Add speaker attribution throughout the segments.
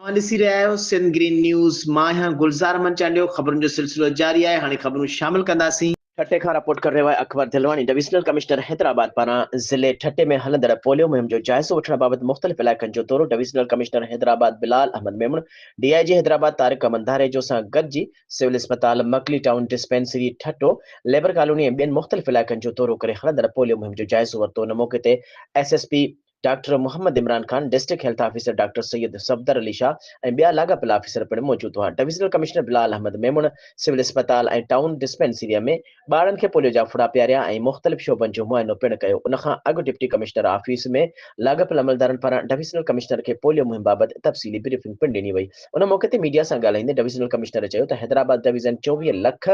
Speaker 1: اوهان ڏسي رهيا آهيو سنڌ گرين نيوز مان آهيان گلزار احمد چانڊيو خبرن جو سلسلو جاري آهي هاڻي خبرون شامل ڪنداسين. ٺٽي کان رپورٽ ڪري رهيو آهي اڪبر دلواڻي ڊويزنل ڪمشنر حيدرآباد پاران ضلعي ٺٽي ۾ هلندڙ پوليو مهم جو جائزو وٺڻ بابت مختلف علائقن جو دورو divisional commissioner Hyderabad Bilal Ahmed Memon D I G Hyderabad Tariq Ahmed Dharejo سان گڏجي سول اسپتال Makli town dispensary Thatta labour colony ۽ ٻين مختلف علائقن جو دورو ڪري هلندڙ پوليو مهم جو جائزو ورتو ان موقعي تي S S P doctor Muhammad Imran Khan, district health officer doctor Syed Safdar Ali Shah ۽ ٻيا لاڳاپيل آفيسر پڻ موجود هئا. Divisional commissioner Bilal Ahmed Memon civil اسپتال ۽ ٽائون ڊسپينسريء ۾ ٻارڙن کي پوليو جا ڦڙا پياريا ۽ مختلف شعبن جو معائنو پڻ ڪيو. ان کان اڳ ڊپٽي ڪمشنر آفيس ۾ لاڳاپيل عملدارن پاران ڊويزنل ڪمشنر کي پوليو مهم بابت تفصيلي بريفنگ پڻ ڏني وئي. ان موقعي تي ميڊيا سان ڳالهائيندي ڊويزنل ڪمشنر چيو ته حيدرآباد ڊويزن چوويهه لک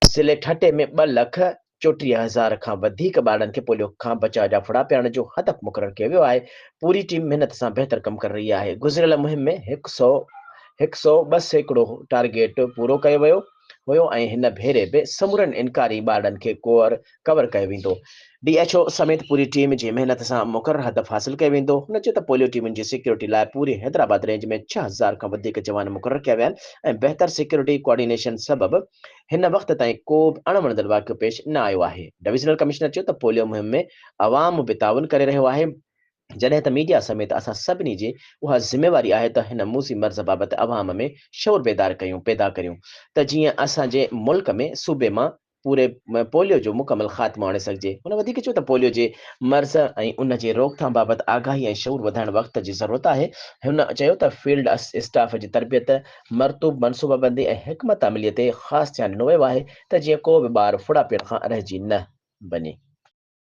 Speaker 1: ضلعي ٺٽي ۾ ٻه لک چوٽيهه هزار کان وڌيڪ ٻارڙن کي پوليو کان بچاء جا ڦڙا پيارڻ جو هدف مقرر ڪيو ويو آهي، پوري ٽيم محنت سان بهتر ڪم ڪري رهي آهي، گذريل مهم ۾ هڪ سئو هڪ سئو ٻه سيڪڙو ٽارگيٽ پورو ڪيو ويو هيو ۽ هن ڀيري به سمورن انڪاري ٻارڙن کي ڪوئر ڪور ڪيو ويندو، ڊي ايڇ او سميت پوري ٽيم جي محنت سان مقرر هدف حاصل ڪيو ويندو، هن چيو ته پوليو ٽيمن جي سيڪيورٽي لاء پوري حيدرآباد رينج ۾ ڇهه هزار کان وڌيڪ جوان مقرر ڪيا ويا آهن ۽ بهتر سيڪيورٽي ڪوآرڊينيشن سبب هن وقت تائين ڪو به اڻ وڻندڙ واقعو پيش نه آيو آهي، ڊويزنل ڪمشنر چيو ته پوليو مهم ۾ عوام به تعاون ڪري رهيو آهي، جڏهن ته ميڊيا سميت اسان سڀني جي اها ذميواري آهي ته هن موذي مرض بابت عوام ۾ شعور بيدار ڪيون پيدا ڪريون ته جيئن اسان جي ملڪ ۾ صوبي مان پوري پوليو جو مڪمل خاتمو آڻي سگهجي. هن وڌيڪ چيو ته پوليو جي مرض ۽ ان جي روڪٿام بابت آگاهي ۽ شعور وڌائڻ وقت جي ضرورت آهي. هن چيو ته فيلڊ اسٽاف جي تربيت، مرطوب منصوبابندي ۽ حڪمت عملي تي خاص ڌيان ڏنو ويو آهي ته جيئن ڪو به ٻار ڦڙا پيئڻ کان رهجي نه وڃي.